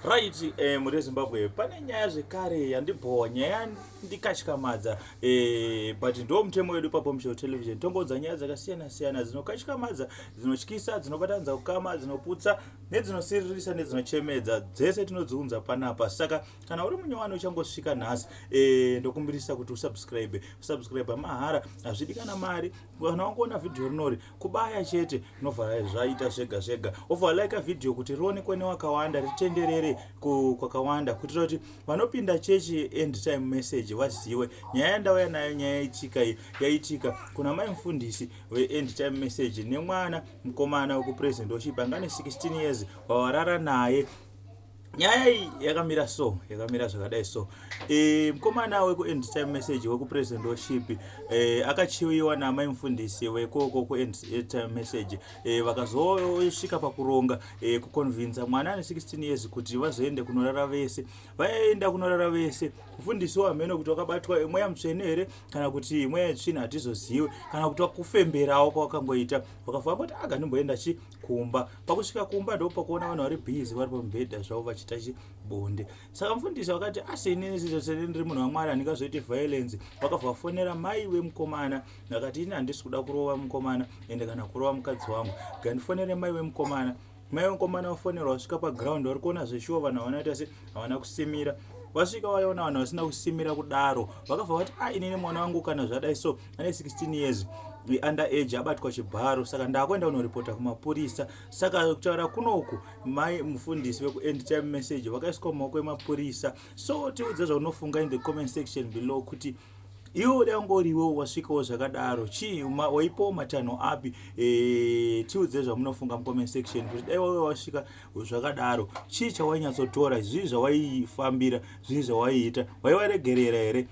Right, eh, muri Zimbabwe pane nyaya zvekare yandibhowa nyaya ndikatyamadza eh, but ndo mutemo wedu pabombshell television tongodza nyaya dzakasiyana siyana dzinokatyamadza dzinotyisa dzinobatanidza kukama dzinoputsa nedzinosiririsa nedzinochemedza dzese tinodziunza panapa saka kana uri munyowani uchangosvika nhasi eh, ndokumbirisa kuti usubscribe usubscribe mahara hazvidi kana mari kana wangoona vhidhiyo rinori kubaya chete novhara zvaita zvega zvega ovha like vhidhiyo kuti rionekwe newakawanda ritenderere kwakawanda kuitira kuti vanopinda chechi end time message vaziwe nyaya yandauya nayo nyaya yaitika iyi yaitika kuna mai mufundisi veend time message nemwana mukomana wekupresident ochipa ngane 16 years wavarara naye nyaya iyi yakamira so yakamira zvakadai so e, mukomana wekuend time message wekupresident worship e, akachiviwa naamai mufundisi wekoko kuend time message e, vakazosvika pakuronga e, kuconvinsa mwana ane 16 years kuti vazoende kunorara vese vaenda kunorara vese mufundisi wahameno kuti wakabatwa mweya mutsvene here kana kuti mweya yetsvina hatizozivi kana kuti wakufemberawo kwawakangoita wakafamba kuti aga ndimboenda chi kumba pakusvika kumba ndopakuona vanhu vari busy vari pamubhedha zvavo vachiita chibonde saka mfundisi vakati asi inini sezvasene ndiri munhu wamwari handingazoiti violence vakabva vafonera mai wemukomana vakati ini handisi kuda kurova mukomana ende kana kurova mukadzi wangu gandifonere mai wemukomana mai wemukomana vafonerwa vasvika paground vari kuona zveshuwa vanhu havana ita se havana kusimira vasvika vaona vanhu vasina kusimira kudaro vakabva vati a ah, inini mwana wangu kana zvadai so ane 16 years under age abatwa chibharo saka ndakuenda kunoripota kumapurisa saka kutaura kunoku mai mufundisi vekuend time message vakaiswa mumaoko emapurisa so tiudze zvaunofunga in the comment section below kuti iwe uda kungoriwo wasvikawo zvakadaro chii waipawo matanho api eh, tiudze zvamunofunga mucomment section kuti dai wave wasvika zvakadaro chii chawainyatsotora zvii zvawaifambira zvii zvawaiita waivaregerera here